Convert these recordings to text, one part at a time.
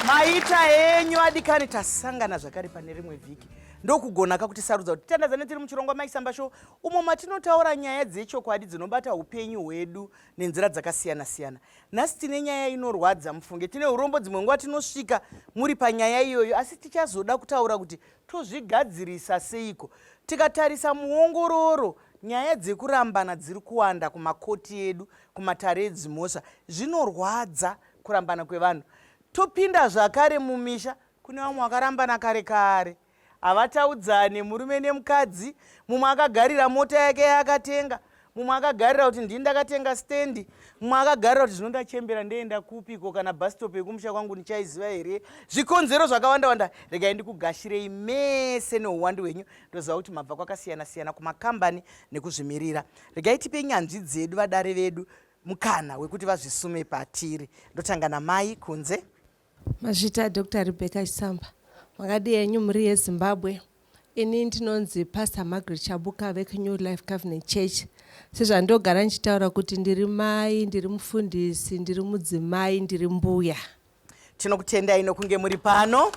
maita enyu adikani tasangana zvakare pane rimwe vhiki ndokugona ka kuti sarudza kuti tandazane tiri muchirongwa maisamba show umo matinotaura nyaya dzechokwadi dzinobata upenyu hwedu nenzira dzakasiyana-siyana nhasi tine nyaya inorwadza mufunge tine urombo dzimwe nguva tinosvika muri panyaya iyoyo asi tichazoda kutaura kuti Tozvigadzirisa seiko? Tikatarisa muongororo, nyaya dzekurambana dziri kuwanda kumakoti edu, kumatare edzimhosva. Zvinorwadza kurambana kwevanhu. Topinda zvakare mumisha, kune vamwe vakarambana kare kare, havataudzane, murume nemukadzi, mumwe akagarira mota yake yaakatenga, mumwe akagarira kuti ndini ndakatenga stendi mumwe akagarira kuti zvino ndachembera ndeenda kupiko kana bhastop yekumusha kwangu ndichaiziva here zvikonzero zvakawanda wanda regai ndikugashirei mese neuwandu hwenyu ndoziva kuti mabva kwakasiyana siyana kumakambani nekuzvimirira regai tipe nyanzvi dzedu vadare vedu mukana wekuti vazvisume patiri ndotanga namai kunze Mazvita Doctor Rebecca Chisamba. Makadii henyu mhuri yeZimbabwe. Ini ndinonzi Pastor Margaret Chabuka vekuNew Life Covenant Church. Sezvandogara ndichitaura kuti ndiri mai, ndiri mufundisi, ndiri mudzimai, ndiri mbuya. Tinokutendai nokunge muri pano.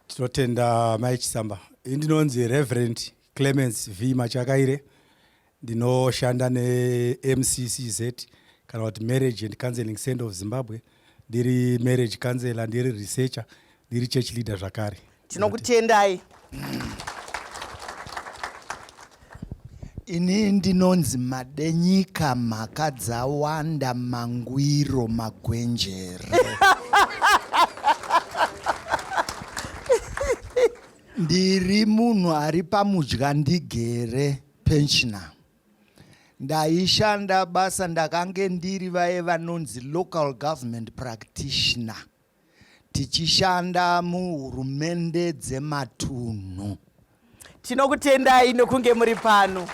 Tinotenda Mai Chisamba. Ini ndinonzi Reverend Clemens V Machakaire. Ndinoshanda neMCCZ kana kuti Marriage and Counseling Center of Zimbabwe. Ndiri marriage counselor, ndiri researcher, ndiri church leader zvakare. Tinokutendai. Ini ndinonzi Madenyika mhaka dzawanda mangwiro magwenjere. Ndiri munhu ari pamudya ndigere. pensioner ndaishanda basa ndakange ndiri vaye vanonzi local government practitioner tichishanda muhurumende dzematunhu tinokutendai nokunge muri pano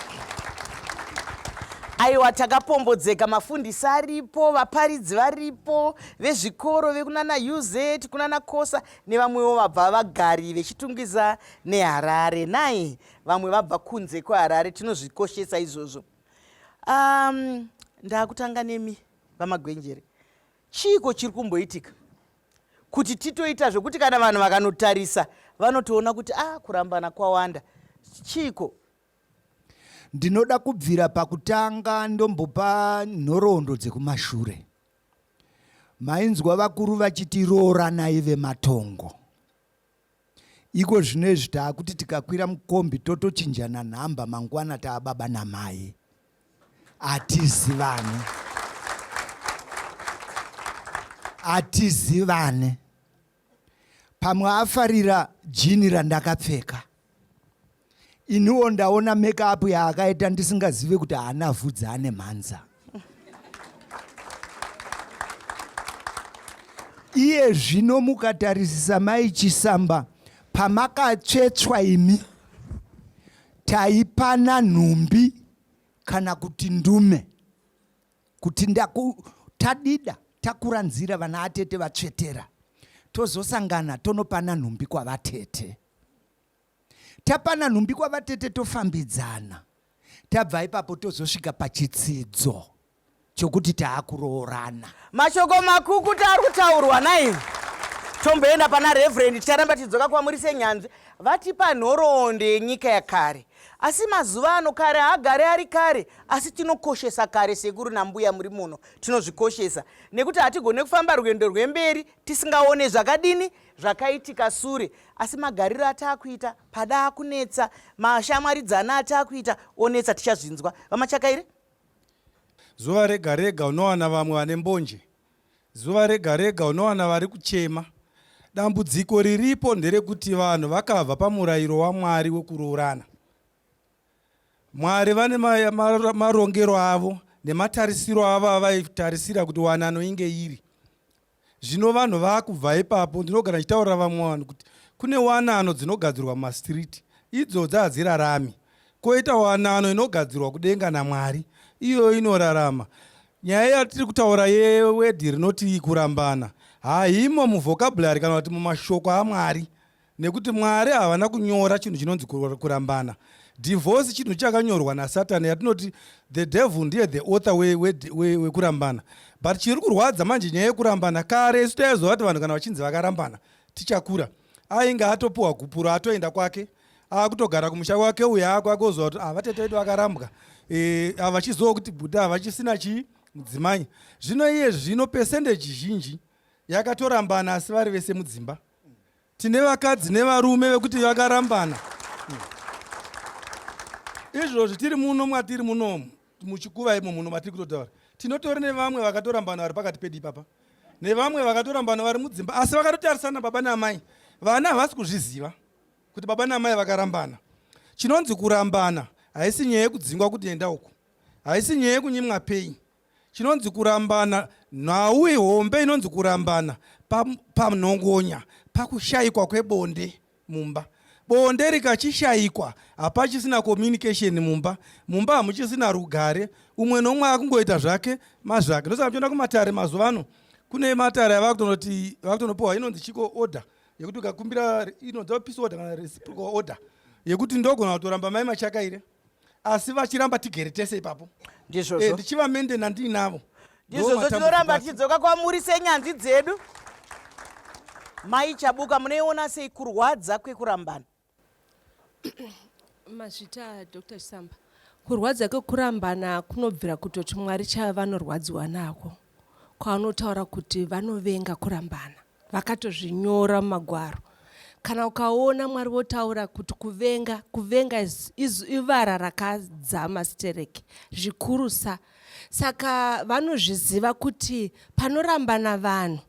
aiwa takapombodzeka mafundisi aripo vaparidzi varipo vezvikoro vekunana uz kunana kosa nevamwewo vabva vagari vechitungwiza neharare nai vamwe vabva kunze kweharare tinozvikoshesa izvozvo um, ndakutanga nemi vamagwenjere chiiko chiri kumboitika kuti titoita zvekuti kana vanhu vakanotarisa vanotoona kuti a ah, kurambana kwawanda chiiko ndinoda kubvira pakutanga ndombopa nhoroondo dzekumashure mainzwa vakuru vachiti rooranai vematongo Iko zvinezvi taakuti tikakwira mukombi totochinjana nhamba mangwana taababa namai. Hatizivane. Hatizivane. Pamwe afarira jini randakapfeka. iniwo ndaona make up yaakaita ndisingazive kuti haana vhudzi ane mhanza iye zvino mukatarisisa mai chisamba pamakatsvetswa imi taipana nhumbi kana kuti ndume kuti ndaku tadida takuranzira vana atete vatsvetera tozosangana tonopana nhumbi kwavatete tapana nhumbi kwavatete tofambidzana tabva ipapo tozosvika pachitsidzo chokuti taakuroorana mashoko makukuta ari kutaurwa nai tomboenda pana reverend ticharamba tichidzoka kwamuri senyanzvi vatipa nhoroondo yenyika yakare asi mazuva ano kare haagare ari kare asi tinokoshesa kare sekuru nambuya muri muno tinozvikoshesa nekuti hatigone kufamba rwendo rwemberi tisingaone zvakadini zvakaitika sure asi magariro ataakuita pada akunetsa mashamwaridzana ataakuita onetsa tichazvinzwa vamachakaire zuva rega rega unowana vamwe vane mbonje zuva rega rega unowana vari kuchema dambudziko riripo nderekuti vanhu vakabva pamurayiro wamwari wekuroorana mwari vane marongero avo nematarisiro avo avaitarisira kuti wanano inge iri Zvino vanhu vakubva ipapo, ndinogara ndichitaurira vamwe vanhu kuti kune wanano dzinogadzirwa mumasitiriti, idzodzi hadzirarami. Koita wanano inogadzirwa kudenga naMwari, iyoyo inorarama. Nyaya yatiri kutaura yewedhi rinoti kurambana haimo muvhokabhurari kana kuti mumashoko aMwari. Nekuti Mwari havana kunyora chinhu chinonzi kurambana. Divorce chinhu chakanyorwa naSatan yatinoti the devil ndiye the author wekurambana. But chiri kurwadza manje nyaya yekurambana kare isu taizoa kuti vanhu kana vachinzi vakarambana tichakura. Ainge atopuwa gupuro atoenda kwake akutogara kumusha kwake uya ako akozoa kuti ah, vatete vedu vakarambwa eh, ah, vachizoa kuti buda vachisina chii mudzimai zvino iye zvino pesendeji zhinji yakatorambana asi vari vese mudzimba tine vakadzi nevarume vekuti vakarambana izvozvi tiri muno mwatiri munomu muchikuva imo muno matiri kutotaura tinotori nevamwe vakatorambana vari pakati pedu ipapa nevamwe vakatorambana vari mudzimba asi vakatotarisana baba naamai vana havasi kuzviziva kuti baba naamai vakarambana chinonzi kurambana haisi nyaya yekudzingwa kuti enda uku haisi nyaya yekunyimwa pei Chinonzi kurambana, nhau ihombe inonzi kurambana panhongonya pa pakushaikwa kwebonde mumba. Bonde rikachishaikwa hapachisina communication mumba. Mumba hamuchisina rugare, umwe nomwe akungoita zvake mazvake. Ndosaka muchiona kumatare mazuva ano kune matare ava kutonoti ava kutonopiwa inonzi chiko order yekuti ukakumbira inonzi peace order kana reciprocal order yekuti ndogona kutoramba mai machakaire asi vachiramba tigere tese ipapo ndizvozvo eh, ndichivamende nandiinavo ndizvozvo tinoramba tichidzoka kwamuri senyanzvi dzedu mai chabuka munoiona sei kurwadza kwekurambana mazvita dr chisamba kurwadza kwekurambana kunobvira kutoti mwari chavanorwadziwa nako kwavanotaura kuti vanovenga kurambana. Vakatozvinyora mumagwaro. Kana ukaona Mwari votaura kuti kuvenga, kuvenga ivara rakadzama stereki zvikurusa. Saka vanozviziva kuti panorambana vanhu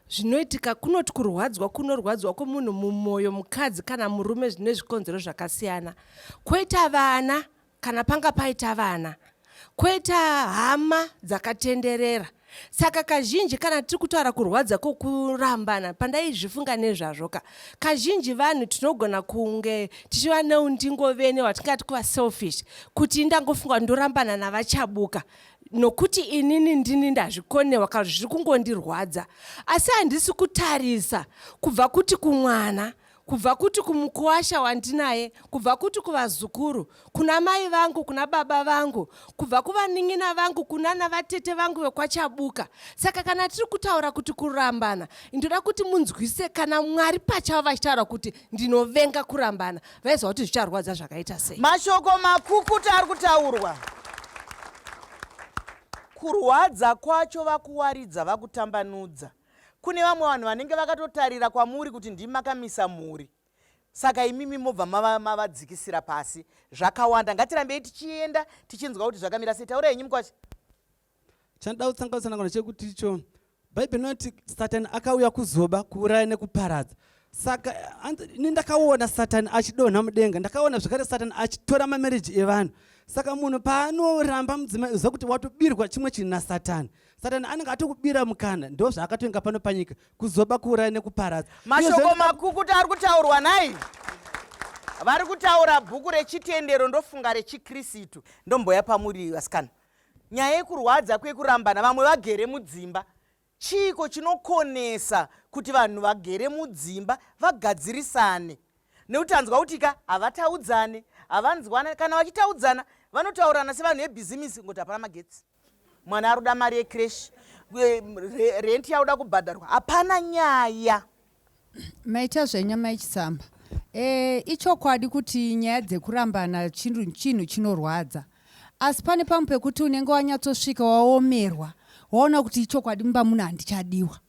zvinoitika kunoti kurwadzwa kunorwadzwa kwemunhu mumwoyo mukadzi kana murume zvine zvikonzero zvakasiyana kwoita vana kana panga paita vana koita hama dzakatenderera saka kazhinji kana tiri kutaura kurwadza kwokurambana pandaizvifunga nezvazvo ka kazhinji vanhu tinogona kunge tichiva neundingo vene watingati kuva selfish kuti ndangofunga ndorambana navachabuka nokuti inini ndini ndazvikonewa ka zviri kungondirwadza asi handisi kutarisa kubva kuti kumwana kubva kuti kumukuwasha wandinaye kubva kuti kuvazukuru kuna mai vangu kuna baba vangu kubva kuvanin'ina vangu kunana vatete vangu vekwachabuka saka kana tiri kutaura kuti kurambana ndoda kuti munzwise kana mwari pachavo vachitaura kuti ndinovenga kurambana vaiziva kuti zvicharwadza zvakaita sei mashoko makukuta ari kutaurwa kurwadza kwacho vakuwaridza vakutambanudza Kune vamwe vanhu vanenge vakatotarira kwamuri kuti ndimi makamisa mhuri saka imimi mobva mavadzikisira mava pasi zvakawanda ngatirambei tichienda tichinzwa kuti zvakamira sei taura henyu mukwacha chandoda kutsanganisa nangona chekuti icho bhaibheri inoti satani akauya kuzoba kuuraya nekuparadza saka ini ndakaona satani achidonha mudenga ndakaona zvekare satani achitora mamereji evanhu saka munhu paanoramba mudzimai uziva kuti watobirwa chimwe chinhu nasatani satani anenge atokubira mukana ndo zvaakatoinga pano panyika kuzoba kuuraya nekuparadza mashoko makukuta ari kutaurwa nai vari kutaura bhuku rechitendero ndofunga rechikristu ndomboya pamuri vasikana nyaya yekurwadza kwekurambana vamwe vagere mudzimba chiiko chinokonesa kuti vanhu vagere mudzimba vagadzirisane nekuti anzwa kuti ka havataudzane havanzwana kana vachitaudzana vanotaurirana sevanhu vebhizimisi ngokuti hapana magetsi Mwana arikuda mari ye cresh rent yakuda kubhadharwa hapana nyaya. Maita zvenyu amai Chisamba. Eh, ichokwadi kuti nyaya dzekurambana chinhu chinhu chinorwadza. Asi pane pamwe pekuti unenge wanyatsosvika waomerwa waona kuti ichokwadi mumba muno handichadiwa.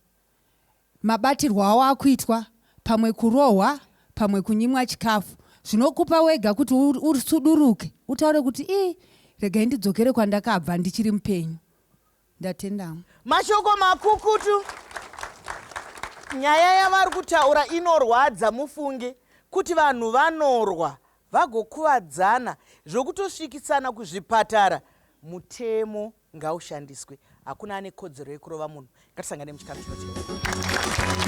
mabatirwo awo akuitwa pamwe kurohwa pamwe kunyimwa chikafu zvinokupa wega kuti usuduruke utaure kuti ii regai ndidzokere kwandakabva ndichiri mupenyu ndatendamo mashoko makukutu nyaya yavari kutaura inorwadza mufunge kuti vanhu vanorwa vagokuvadzana zvokutosvikisana kuzvipatara mutemo ngaushandiswe hakuna ane kodzero yekurova munhu ngatisangane muchikamu chinocheka